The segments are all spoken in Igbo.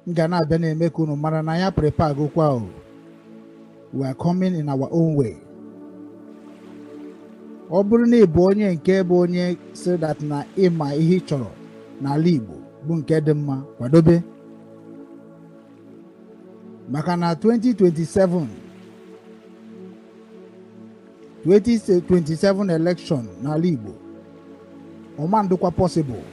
m ga na-abịa na-eme ka unu mara na ya prepare gokwa o we are coming in our own way ọ bụrụ na ị bụ onye nke bụ onye sị that na ị ma ihe ị chọrọ n'ala Igbo bụ nke dị mma kwadobe maka na 2027 2027 election n'ala Igbo ọ ma adịkwa possible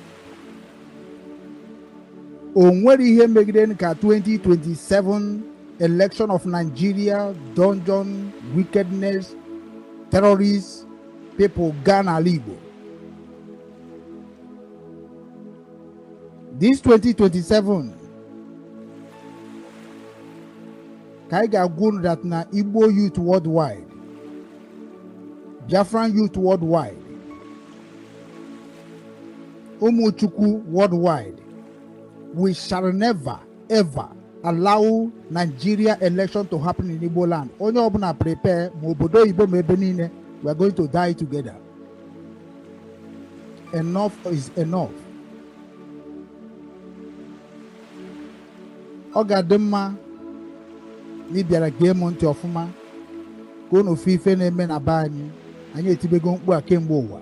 o nwere ihe megide ka 2027 election of Nigeria dungeon wickedness terrorist people gaa n'ala Igbo this 2027 ka anyị ga-agwa unu that na Igbo youth worldwide Biafran youth worldwide Ụmụ Chukwu worldwide we shall never ever allow Nigeria election to happen in Igbo land onye ọbụla prepare ma obodo oyibo ma ebe niile we are going to die together enough is enough ọ ga-adị mma na ị bịara gee m ntị ọfụma ka unu fụ ife na-eme na be anyị anyị etibego mkpu a kemgbe ụwa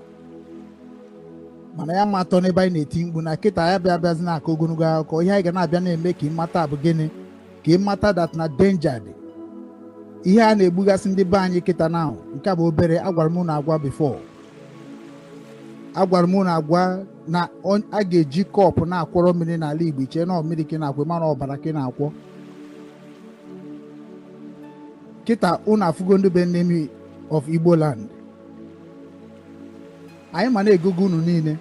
mana ya ma atọ n'ebe anyị na-eti mkpu na kịta ya bịa abịazi na-akọ ogologo akụkọ ihe anyị ga na-abịa na-eme ka ị mata bụ gịnị ka ị mata that na danger dị ihe a na-egbugasị ndị be anyị kịta na nke bụ obere agwara m unu agwa before agwara m unu agwa na a ga-eji cup na-akwọrọ mmiri n'ala Igbo i chee na ọ mmiri ka ị na-akwọ mana ọbara ka ị na-akwọ kịta unu afụgo ndị bụ enemy of Igbo land anyị ma na-egogo unu niile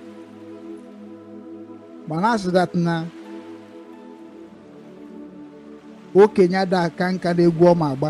ma na-asị that na okenye ada aka nka n'egwu ọ ma agba